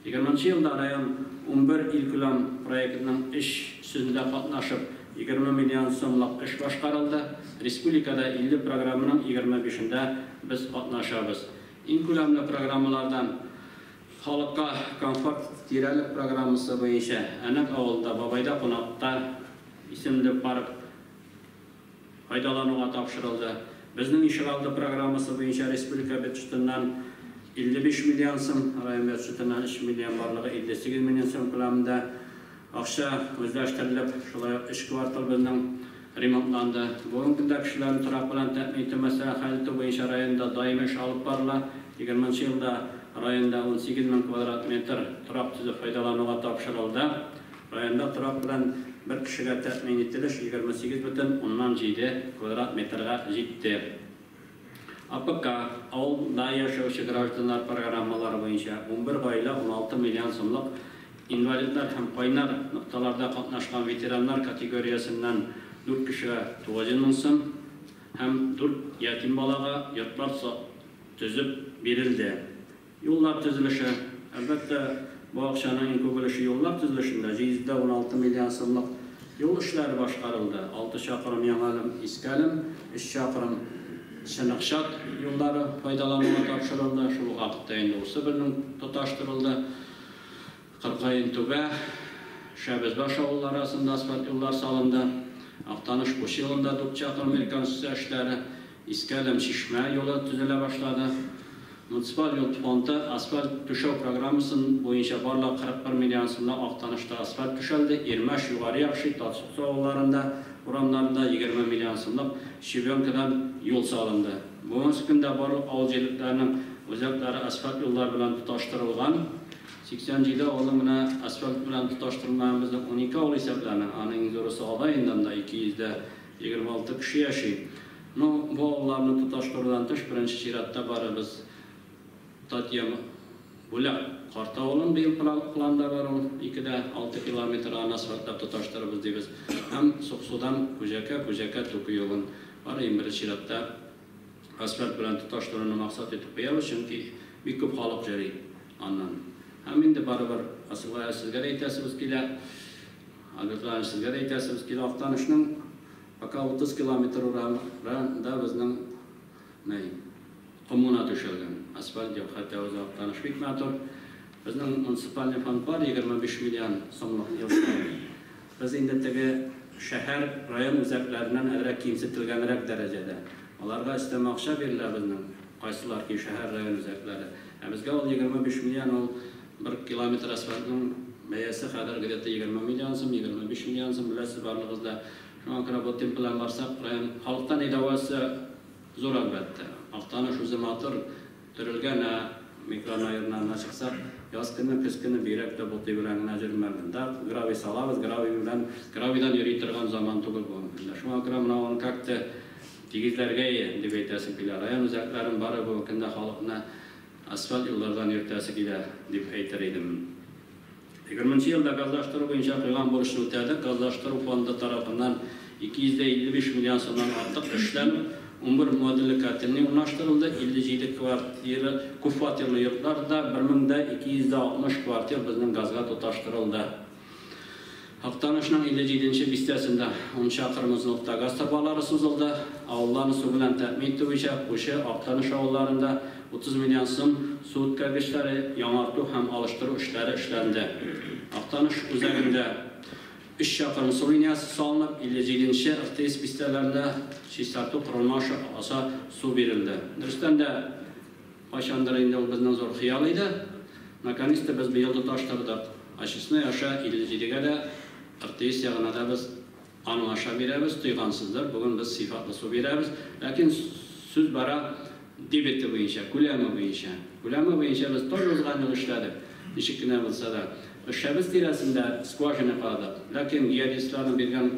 Егерменче елда район унбер илкүләм проектының эш сүзендә катнашып, егерме миллион сумлык эш башкарылды. Республикада илле программаның егерме бишендә без катнашабыз. Иң күләмле программалардан Халыкка комфорт тирәлек программасы буенча Әнәк авылында Бабайда кунакта исемле парк, файдалануга тапшырылды. Безнең Ишегалды программасы буенча республика бюджетыннан 55 миллион сум, район бюджетыннан 3 миллион, барлыгы 58 миллион сум күләмендә акча үзләштерелеп, шулай ук өч кварталыбызның ремонтланды. Бүгенге көндә кешеләрне торак белән тәэмин итү мәсьәләләрен хәл итү буенча районда даими эш алып барыла. Егерменче елда районда унсигез мең квадрат метр торак төзү файдалануга тапшырылды. Районда торак белән бер кешегә тәэмин ителеш егерме сигез бөтен уннан җиде квадрат метрга җитте. АПК, авыл да яшәүче гражданнар программалары буенча унбер гаилә уналты миллион сумлык инвалидлар һәм кайнар нокталарда катнашкан ветераннар категориясеннән дүрт кешегә тугызйөз мең сум һәм дүрт ятим балага йортлар төзеп бирелде. Юллар төзелеше. Әлбәттә, бу акчаның иң күп өлеше юллар төзелешендә, 716 миллион сумлык юл эшләре башкарылды, алты чакрым Яңа Әлем, Иске Әлем, өч чакрым Чыныкчат юллары файдалануга тапшырылды, шул ук вакытта инде усы белнең тоташтырылды, Кыркаен Түбә, Шәбезбаш авыллары арасында асфальт юллар салынды, Актаныш Куш юлында дүрт чакрым реконструкция эшләре Иске Әләм, Чишмә юлы төзелә башлады. Муниципаль юл фонды асфальт түшәү программасын буенча барлыгы 41 миллион сумлык Актанышта асфальт түшәлде, Ирмәш, Югары Якши, Татсуксу авылларында, урамнарында 20 миллион сумлык щебенкадан юл салынды. Бүгенге көндә барлык авыл җирлекләренең үзәкләре асфальт юллар белән тоташтырылган. 87 авылны менә асфальт белән тоташтырмаган безнең унике авыл исәпләнә. Аның иң зурысы Алай инде, анда 200 дә. Егерме алты кеше яши. Ну, бу авылларны тоташтырудан тыш, беренче чиратта барыбыз Татьям Бүләк карт авылын быел планда бар ул, ике дә алты километр, аны асфальтлап тоташтырырбыз дибез. Һәм Суксудан Күҗәкә, Күҗәкә Туку юлын ары иң беренче чиратта асфальт белән тоташтыруны максат итеп куябыз, чөнки бик күп халык йөри аннан. Һәм инде барыбер, Асылгая, сезгә дә әйтәсебез килә. Альберт Иванович, сезгә дә әйтәсебез килә, Актанышның пока 30 километр урары да безнең мэй коммуна түшәлгән, асфальт юк, хәтта үзе Актаныш бик матур. Безнең муниципальный фонд бар, 25 миллион сумлык ел саен. Без инде теге шәһәр, район үзәкләреннән әзрәк кимсетелгәнрәк дәрәҗәдә. Аларга өстәмә акча бирелә безнең кайсылар ки шәһәр, район үзәкләре. Ә безгә ул 25 миллион ул Бер километр асфальтның бәясе хәзер где-то егерме миллион сум, егерме биш миллион сум, беләсез барлыгыз да. Шуңа күрә бу темп белән барсак, район халыкта нәйдавасы зур, әлбәттә. Актаныш үзе матур, төрелгән, ә микрорайоннарына чыксак, яз көне, көз көне бигрәк тә ботый белән генә җөрмәлдем. Да, гравий салабыз, гравий белән, гравийдан йөри торган заман түгел бу. Менә шуңа күрә менә аны как-то тигезләргә дип әйтәсем килә. Район үзәкләрен бары бу көнне халыкны Асфальт юллардан йөртәсе килә, дип әйтер идем. Егерменче елда газлаштыру буенча куйган бурычны үтәдек. Газлаштыру фонды тарафыннан 255 миллион сумнан артык эшләнеп, унбер модульле котельный урнаштырылды, 57 квартира, күпфатирлы йортлар да, 1260 квартир безнең газга тоташтырылды. Актанышның 57 нче бистәсендә ун чакрым озынлыкта газ торбалары сузылды. Авылларны су белән тәэмин итү буенча Кучы, Актаныш авылларында 30 миллион сум су үткәргечләре яңарту һәм алыштыру эшләре эшләнде. Актаныш үзәгендә өч чакрым су линиясе салынып, 57 нче, РТИС бистәләренә чистарту корылма аша су бирелде. Дөрестән дә, Кайчандыр инде ул безнең зур хыял иде. Наконец-то без быел тоташтырдык. Очистной аша 57 гә дә РТИС ягына да без аның аша бирәбез. Тойгансыздыр, бүген без сыйфатлы су бирәбез. Ләкин сүз бара дебеты буенча, күләме буенча. Күләме буенча без тоже узган ел эшләдек. Ничек кенә булса да. Өршәбез тирәсендә скважина каладык. Ләкин геодезистларның биргән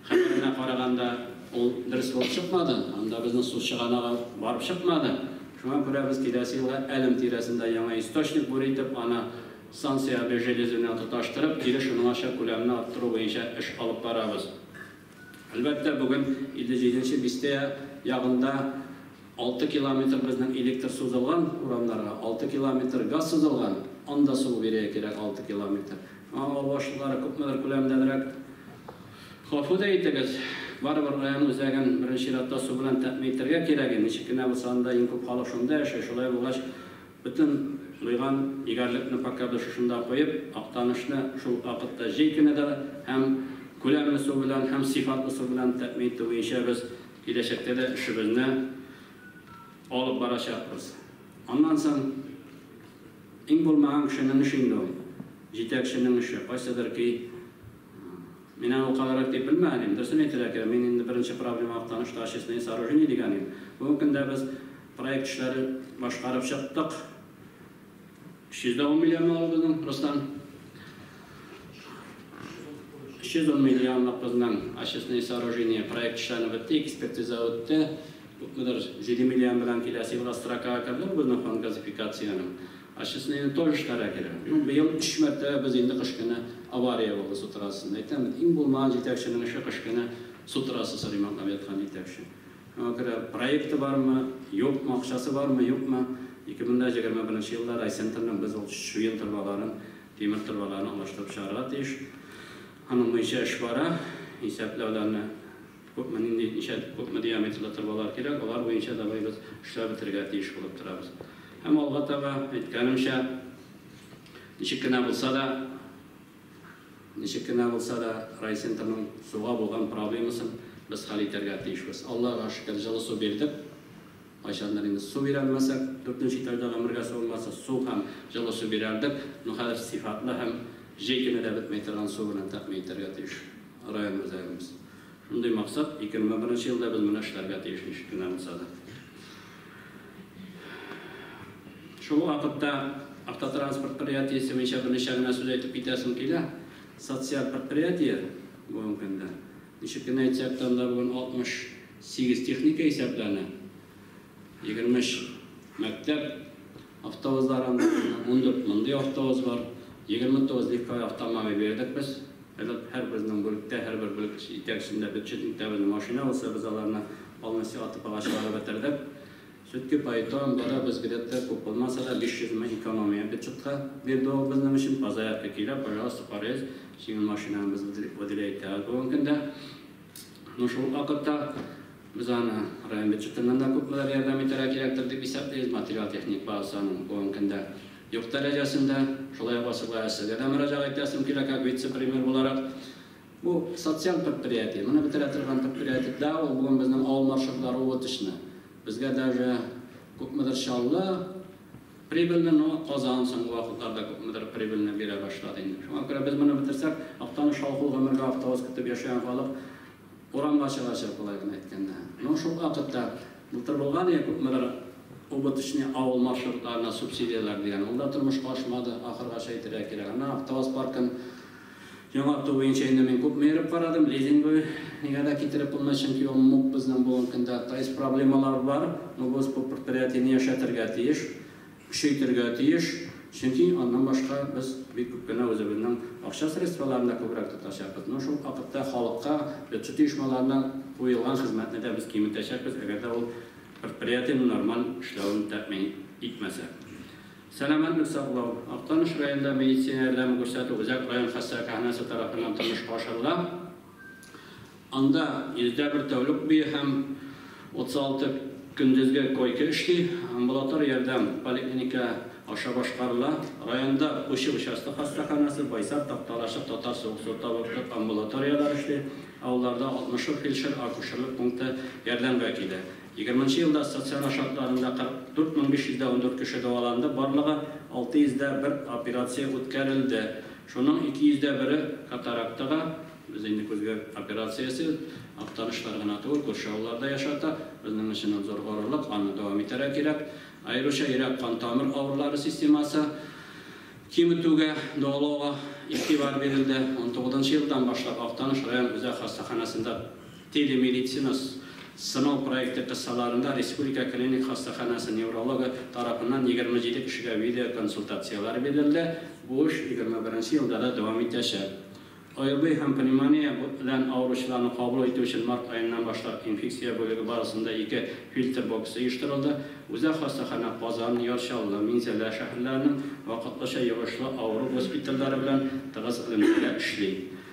Хәбәренә караганда, ул дөрес булып чыкмады, анда безнең су чыганагы барып чыкмады. Шуңа күрә без киләсе елга Әлем тирәсендә яңа источник бур итеп, аны станция обе железы белән тоташтырып, килеш уңача күләмне арттыру буенча эш алып барабыз. Әлбәттә, бүген 57 нче бистә ягында Алты километр безнең электр сузылган урамнарга, алты километр газ сузылган, анда сугу бирергә кирәк алты километр. Шуңа авыл башлыклары күпмедер күләмдәнрәк гафу да итегез, барыбер район үзәген беренче чиратта су белән тәэмин итәргә кирәк и, ничек кенә булса анда иң күп халык шунда яши, шулай булгач бөтен лыйган егәрлекне пока без шушында куеп, Актанышны шул ук вакытта җәй көне дә һәм күләмле су белән һәм сыйфатлы су белән тәэмин итү буенча без Киләчәктә дә эшебезне алып барачакбыз. Аннан соң, иң булмаган кешенең эше инде ул, җитәкченең эше. Кайсыдыр ки, мин аны ул кадәррәк дип белмәгән идем. Дөресен әйтергә кирәк, мин инде беренче проблемага таныш та Очистные сооружения дигән идем. Бүгенге көндә без проект эшләре башкарып чыктык. 310 миллион малы безнең Руслан. 310 миллионлык безнең очистные сооружения проект эшләнеп бетте, экспертиза үтте. Күпмедер 7 миллион белән киләсе елга строкага керде бу безнең фонд газификациянең. Очистные тоже эшләргә керә. Ну, быел өч мәртәбә без инде кыш көне авария булды су трассасында. Әйтәм бит, иң булмаган җитәкченең эше кыш көне су трассасы ремонтлап яткан җитәкче. Аңа күрә проекты бармы, юкмы, акчасы бармы, юкмы, 2021 елда райцентрның без ул чуен торбаларын, тимер торбаларын алыштырып чыгарга тиеш. Аның буенча эш бара. Исәпләүләрне күпме, нинди, ничә, күпме диаметрлы торбалар кирәк, алар буенча давай без эшләп бетерергә тиеш булып торабыз. Һәм алга таба, әйткәнемчә, ничек кенә булса да, Ничек кенә булса да, райцентрның суга булган проблемасын без хәл итәргә тиешбез. Аллага шөкер, җылы су бирдек. Кайчандыр инде су бирәлмәсәк, дүртенче тәүдә гомергә су булмаса, су һәм җылы су бирәлдек. Ну хәзер сыйфатлы һәм җәй көне дә бетмәй торган су белән тәэмин итәргә тиеш район үзәгебез. Мондый максат 2001 елда без моны эшләргә тиеш, ничек кенә булса да. Шул вакытта автотранспорт предприятиесе буенча берничә генә сүз әйтеп китәсем килә. Социаль предприятие бүгенге көндә. Ничек кенә әйтсәк тә, анда бүген 68 техника исәпләнә. Егерме өч мәктәп автобусларын, ундүрт мондый автобус бар, егерме тугыз легковой автомобиль бирдек без. Элек һәрберенең бүлектә, һәрбер бүлек җитәкчесендә бюджетникта безнең машина булса, без аларны полностью АТПга чыгарып бетердек. Сүтки поэтон, бары без где-то күп булмаса да, биш йөз мең экономия бюджетка бирде ул безнең өчен. Позаявка килә, пожалуйста, карыйз, җиңел машинаны без выделять итәбез бүгенге көндә. Ну шул вакытта без аны район бюджетыннан да күпмеләр ярдәм итәргә кирәктер дип исәплибез, материаль-техник базасы аның бүгенге көндә юк дәрәҗәсендә. Шулай ук Васыйбай а сезгә дә мөрәҗәгать итәсем килә, как вице-премьер буларак. Бу социаль предприятие, моны бетерә торган предприятие. Да, ул бүген безнең авыл маршрутлары убыточны. Безгә даже күпмедер Чаллы, Прибыльне, ну, Казан соңгы вакытларда күпмедер прибыльне бирә башлады инде. Шуңа күрә без моны бетерсәк, Актаныш халкы ул гомергә автовоз көтеп яшәгән халык урамга чыгачак, болай гына әйткәндә. Ну, шул вакытта былтыр булган иде күпмедер убыточный авыл маршрутларына субсидияләр дигән, ул да тормышка ашмады, ахыргача әйтергә кирәк. Ана автовоз паркын Яңарту буенча инде мин күпме йөреп карадым, лизинговый нигә дә китереп булмый, чөнки ул муп безнең бүгенге көндә ТАИС проблемалары бар, ну без бу предприятиене яшәтергә тиеш, көчәйтергә тиеш, чөнки аннан башка без бик күп кенә үзебезнең акча средстволарын да күбрәк тотачакбыз, ну шул ук вакытта халыкка бюджет оешмаларына куелган хезмәтне дә без киметәчәкбез, әгәр дә ул предприятиенең нормаль эшләвен тәэмин итмәсәк. Сәламәтлек саклау, Актаныш районында медицина ярдәме күрсәтү үзәк район хастаханәсе тарафыннан тормышка ашырыла. Анда 101 тәүлек буе һәм 36 көндезге койка эшли. Амбулатор ярдәм поликлиника аша башкарыла. Районда Кучы участок хастаханәсе, Байсар, Такталачык, Татар суык су табиб амбулаторияләре эшли. Авылларда 60 ук фельдшер-акушерлык пункты ярдәмгә килә. Егерменче елда стационар шартларында 44 мең 500 дә ундүрт кеше дәваланды, барлыгы 600 дә бер операция үткәрелде. Шуның 200 дә бере катарактага, без инде күзгә операциясе Актанышлар гына түгел, күрше авыллар да яшата, безнең өчен ул зур горурлык, аны дәвам итәргә кирәк. Аеруча йөрәк-кан тамыр авырулары системасы киметүгә, дәвалауга игътибар бирелде. Унтугызынчы елдан башлап Актаныш район үзәк хастаханәсендә Телемедицинас сынау проекты кысаларында республика клиник хастаханәсе неврологы тарафыннан егерме җиде кешегә видеоконсультацияләр бирелде, бу эш егерме беренче елда да дәвам итәчәк. ОРВИ һәм пневмония белән авыручыларны кабул итү өчен март аеннан башлап инфекция бүлеге базасында ике фильтр боксы оештырылды, үзәк хастаханә Казан, Яр Чаллы, Минзәлә шәһәрләренең вакытлыча йогышлы авыру госпитальләре белән тыгыз элемтәдә эшли.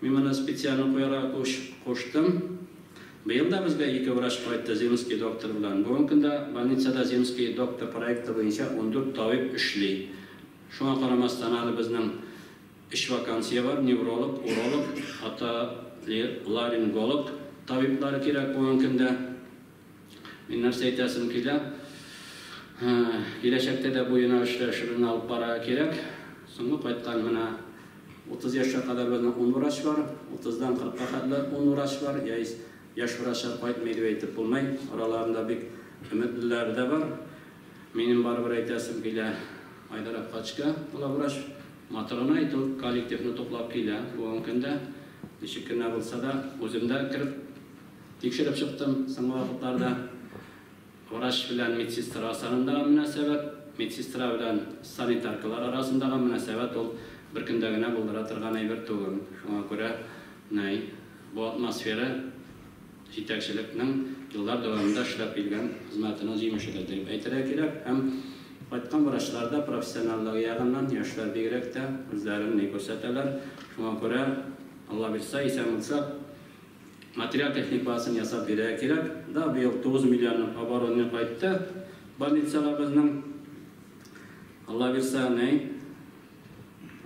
Мин моны специально куярга уч куштым. Быел да безгә ике врач кайтты земский доктор белән. Бүгенге көндә больницада земский доктор проекты буенча ундүрт табиб эшли. Шуңа карамастан, әле безнең өч вакансия бар, невролог, уролог, отолеринголог табиблары кирәк бүгенге көндә. Мин нәрсә әйтәсем килә, киләчәктә дә бу юнәлештә эшебезне алып барырга кирәк. Соңгы кайткан менә 30 яшькә кадәр безнең 10 врач бар, 30-дан 40-ка хәтле 10 врач бар, яис яшь врачлар кайтмый дип әйтеп булмый, араларында бик өметлеләре дә бар. Минем барыбер әйтәсем килә, Айдар Әпкачка главврач матурын әйтү, коллективны туплап килә бүгенге көндә. Ничек кенә булса да, үзем дә кереп Тикшереп чыктым, соңгы вакытларда врач белән медсестра арасарындагы мөнәсәбәт, медсестра белән санитаркалар арасындагы мөнәсәбәт ул бер көндә генә булдыра торган әйбер түгел. Шуңа күрә нәй бу атмосфера җитәкчелекнең еллар дәвамында эшләп килгән хезмәтенең җимеше дә дип әйтергә кирәк. Һәм кайткан врачлар да профессионаллыгы ягыннан, яшьләр бигрәк тә, үзләрен ни күрсәтәләр. Шуңа күрә, Алла бирса, исән булсак, Материаль-техник базасын ясап бирергә кирәк. Да, быел 9 миллионның оборотны кайтты больницаларыбызның. Алла бирса, ней,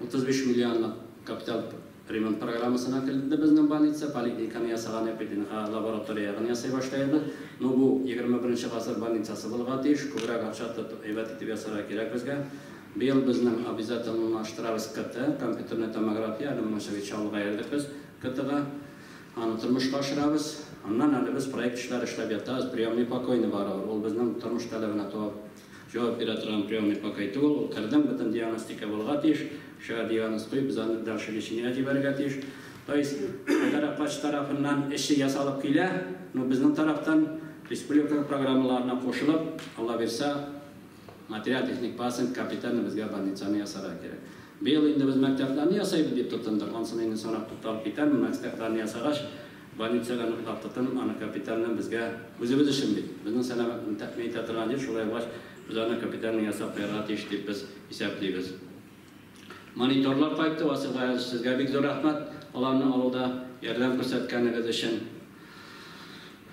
35 миллионлык капиталь ремонт программасына керде безнең больница. Поликлиниканы ясаганны, ПТНХ лаборатория ягын ясый башлаербыз. Ну, бу 21 гасыр больницасы булырга тиеш. Күбрәк акча тотып, әйбәт итеп ясарга кирәк безгә. Быел безнең обязательнлаштырабыз КТ, компьютерная томография, әле моның чыгычы алга йөрдек без. КТга. Аны тормышка ашырабыз. Аннан әле без проект эшләре эшләп ятабыз. Приемный покойны барыбер. Ул безнең тормыш таләбенә туап җавап бирә торган приемный покой түгел. Ул кердең, бөтен диагностика булырга тиеш. Кешегә диагноз куеп, без аны дальше лечениегә җибәрергә тиеш. То есть, әгәр апач тарафыннан эше ясалып килә, ну, безнең тарафтан республика программаларына кушылып, Аллабирса, Материаль техник базасын капитально безгә больницаны ясарга кирәк. Быел инде без мәктәпләрне ясыйбыз дип тотындык. Ансын инде соңрак тукталып китәрмен. Мәктәпләрне ясагач, больница да ныклап тотынып, аны капитально безгә, үзебез өчен бит, безнең сәламәтлекне тәэмин итә торган җир, шулай булгач, без аны капитально ясап куярга тиеш дип без исәплибез. Мониторлар кайтты, Васил Гаяз, сезгә бик зур рәхмәт аларны алуда ярдәм күрсәткәнегез өчен.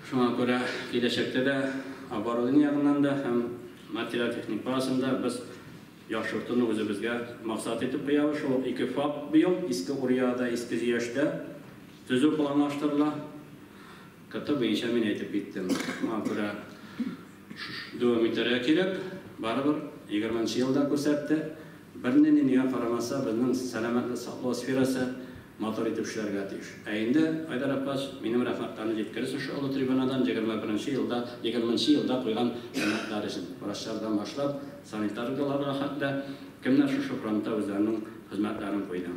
Шуңа күрә киләчәктә дә оборудование ягыннан да һәм материаль-техник базасын да без яхшыртуны үзебезгә максат итеп куябыз. Шул ук ике ФАП быел, Иске Урьяда, Иске Зөяштә төзү планлаштырыла. Каты буенча мин әйтеп киттем. Моңа күрә дәвам итәргә кирәк. Барыбер егерменче ел да күрсәтте. Бернинди нигә карамаса, безнең сәламәтлек саклау сферасы матур итеп эшләргә тиеш. Ә инде, Айдар Аппач, минем рәхмәтләрне җиткерерсең шушы олы трибунадан егерме беренче елда, егерменче елда куйган өметләр өчен. Врачлардан башлап, санитарларга хәтле, кемнәр шушы фронтта үзләренең хезмәтләрен куйды.